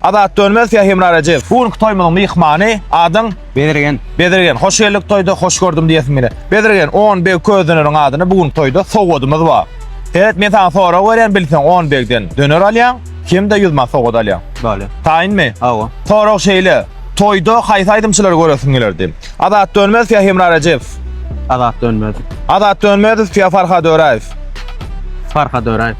Azat Dönmez ýa Hemra Rejep. Bu günki toýumyzyň myhmany, adyň? Bezirgen. Bezirgen, hoş geldik toýda, hoş gördüm diýesim gelýär. Bezirgen, Onbeg Közdöneriň adyna bu günki toýda sowgadymyz bar. Seret, men saňa sorag berýän, bilseň Onbegden döner alýaň, hem-de ýüz manat sowgat alýaň. Bale. Taýynmy? Hawa. Sorag şeýle, toýda haýsy aýdymçylary göresiň gelerdi? Azat Dönmez ýa Hemra Rejep. Azat Dönmez. Azat Dönmez ýa Farhad Öräýew. Farhad Öräýew.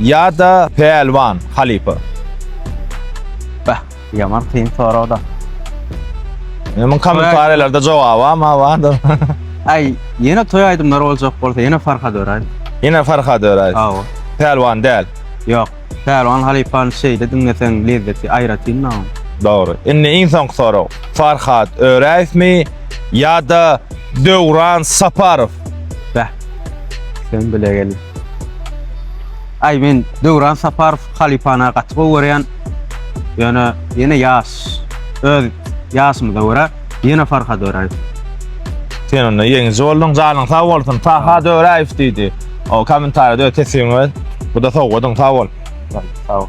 Ýa-da Pälwan halypa? Beh, ýaman kyn sorag-da. Ine, muň kommentariýalarda jogabam bardyr. Aý, ýene toý aýdymlary boljak bolsa, ýene Farhad Öraýew. Ýene Farhad Öraýew. Hawa. Pälwan däl. Ýok. Pälwan halypany şeýde diňleseň lezzeti aýratyn-da onuň. Dogry. Indi iň soňky sorag. Farhad Öraýewmi ýa-da Döwran Saparow? Beh, sen bile gelip. Aý men Döwran Saparow halypana gaty gowy görýän. Ýöne ýene ýaş. Öz ýaşymyza görä ýene Farhad Öräýew. Sen onda ýeňiji bolduň janyň sag bolsun Farhad Öräýew diýdi o kommentariýada öz teswigiňi ber bu-da sowgadyň sag bol. Sag bol.